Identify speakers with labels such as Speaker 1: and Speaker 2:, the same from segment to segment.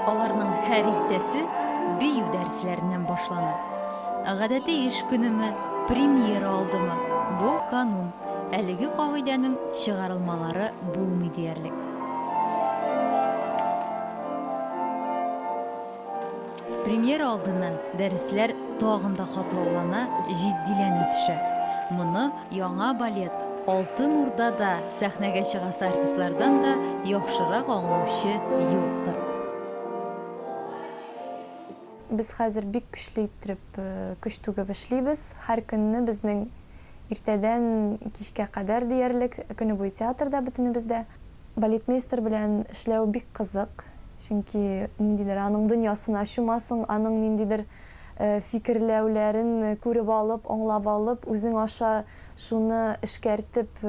Speaker 1: Аларның һәр иртәсе бию дәресләреннән башлана. Гадәти эш көнеме, премьера алдымы, бу канун. Әлеге кагыйдәнең чыгарылмалары булмый диярлек. Премьера алдыннан дәресләр тагын да катлаулана, җитдиләнә төшә. Моны яңа балет Алтын Урда да сәхнәгә чыгасы артистлардан да яхшырак аңлаучы юктыр.
Speaker 2: Без хәзер бик көчле иттереп көч түгеп эшлибез. Һәр көнне безнең иртәдән кичкә кадәр диярлек көне буе театрда бөтенебез дә. Балетмейстер белән эшләү бик кызык, чөнки ниндидер аның дөньясына чумасың, аның ниндидер фикерләүләрен күреп алып, аңлап алып, үзең аша шуны эшкәртеп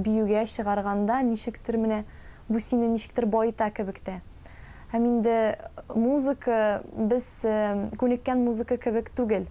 Speaker 2: биюгә чыгарганда ничектер менә бу сине ничектер баета кебек тә. Һәм инде музыка, без күнеккән музыка кебек түгел.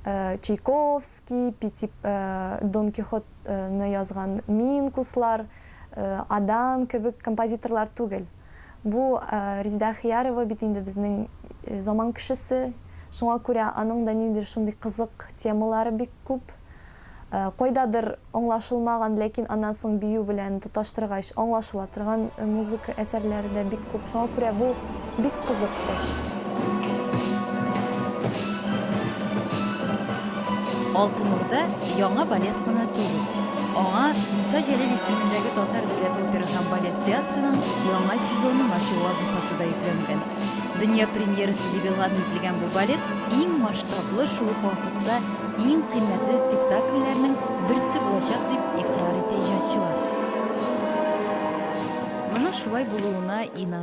Speaker 2: Чайковский, Пети Дон Кихот ны язган Минкуслар, Адан кебек композиторлар түгел. Бу Резеда Әхиярова бит инде безнең заман кешесе, шуңа күрә аның да ниндидер шундый кызык темалары бик күп. Кайдадыр аңлашылмаган, ләкин аннан соң бию белән тоташтыргач аңлашыла торган музыка әсәрләре дә бик күп. Шуңа күрә бу. Бик кызык эш.
Speaker 1: Алтын Урда яңа балет кына түгел. Аңа Муса Җәлил исемендәге татар дәүләт опера һәм балет театрының яңа сезонын ачу вазыйфасы да йөкләнгән. Дөнья премьерасы дип игълан ителгән бу балет иң масштаблы, шул ук вакытта иң кыйммәтле спектакльләрнең берсе булачак, дип икърар итә иҗатчылар. Моның шулай булуына инан.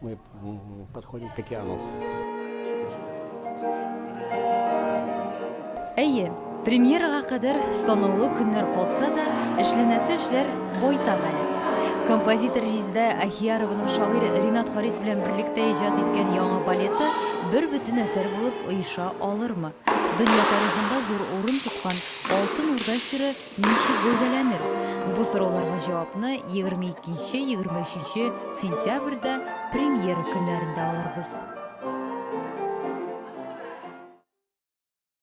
Speaker 3: Мы подходим к океану.
Speaker 1: Әйе, премьерага кадәр санаулы көннәр калса да, эшләнәсе эшләр байтак әле. Композитор Риздә Ахиярованың шагыйрь Ринат Харис белән берлектә иҗат иткән яңа балеты бер бөтен әсәр булып оеша алырмы? Дөнья тарихында зур урын тоткан Алтын Урда чоры Ничек гәүдәләнер? Бу сорауларга җавапны 22-23 сентябрьдә премьера көннәрендә алырбыз.